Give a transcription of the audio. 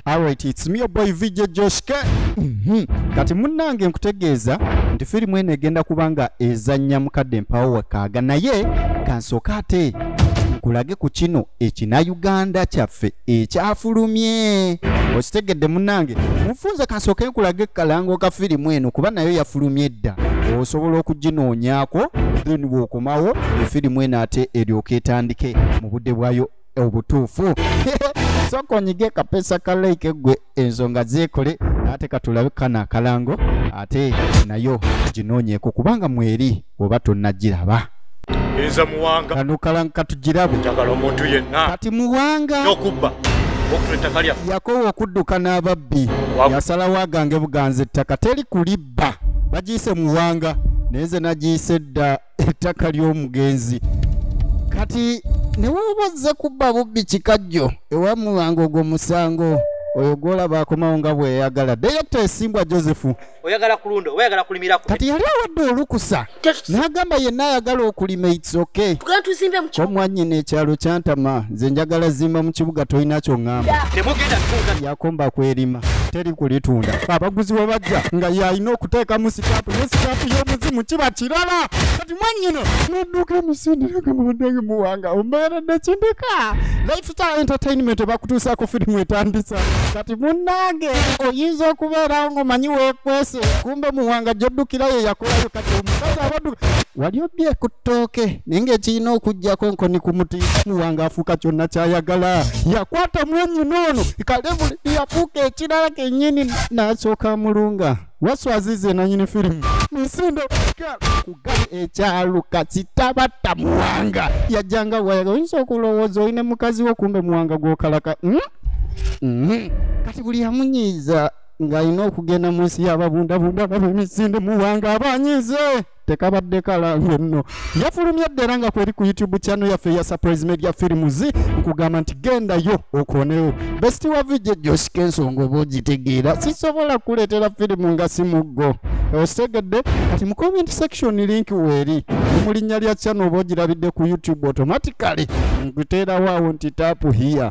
Alright, it's me your boy VJ Josh K. Mhm. Kati munnange nkutegeeza nti firimu eno egenda kuba nga ezannya mukadde mpawo wakaaga naye kansooka ate nkulage ku kino ekina Uganda kyaffe ekyafulumye okitegedde munnange mufunze kansooke nkulage kalango ka firimu eno kuba nayo yafulumye edda osobola okuginoonyako then bw'okomawo efirimu eno ate eryoka etandike mu budde bwayo obutuufu soka onyige kapesa ka like gwe ensonga zeekole ate katulabe kana akalango ate nayo ginoonyeeko kubanga mweri oba tonnagiraba enza muwanga kano kalango katugirabo njagala omuntu yenna kati muwanga okubba yakowa okudduka n'ababbi yasalawo agange buganza ettaka teri kulibba bagiyise muwanga naye nze nagiyise dda ettaka ly'omugenzi kati newoba ozze kubba bubbi kikajjo ewamuwanga ogwo musango oyo gwolaba akomawo nga bweyagala direkta esimbwa josephu oyagala kulunda oba yagala kulimira kati yali awadde olukusa n'agamba yenna ayagala okulima itsoke omwanyina ekyalo kyantama nze njagala zimba mu kibuga tolina kyoŋŋamba yakomba kwerima teri kulitunda abaguzi we bajja nga yalina okuteekamu sitaapu ne sitaapu y'omuzimu kiba kirala kati mwanyina nadduka emisindiraga mubaddenga muwanga ombeeredde kindika lifestyle entertainment bakutuusaako firimu etandisa kati munnange oyinza okubeerawo ng'omanyi weekwese kumbe muwanga gy'oddukira ye yakolayo kati omukazi abadduka wali obbye ku ttooke naye ng'ekirina okujjako nkoni ku muti muwanga afuuka kyonna kyayagala yakwata mwanyina ono kalebule yafuuka ekirala kennyini n'asooka mulunga waswazize nanyini firimu misindo kugali ekyaluka kitabatta muwanga yajjanga wayaga oyinza okulowooza olina mukazi wo kumbe muwanga gwokalaka mm? mm. kati buli yamunyiiza ng'alina okugenda mu nsi y'ababundabunda baba emisinde muwanga abanyiize tekabadde kalalu nno yafulumye dda era nga kweri ku youtube channel yaffe eya surprise media films nkugamba nti gendayo okonewo besiti wa vijja josika ensonga oba ogitegeera sisobola kuleetera firimu nga si muggo okitegedde kati mu comment section link weeri mu linnya lya channel oba ogirabidde ku youtube automatically nkuteerawo awo nti taapu hiya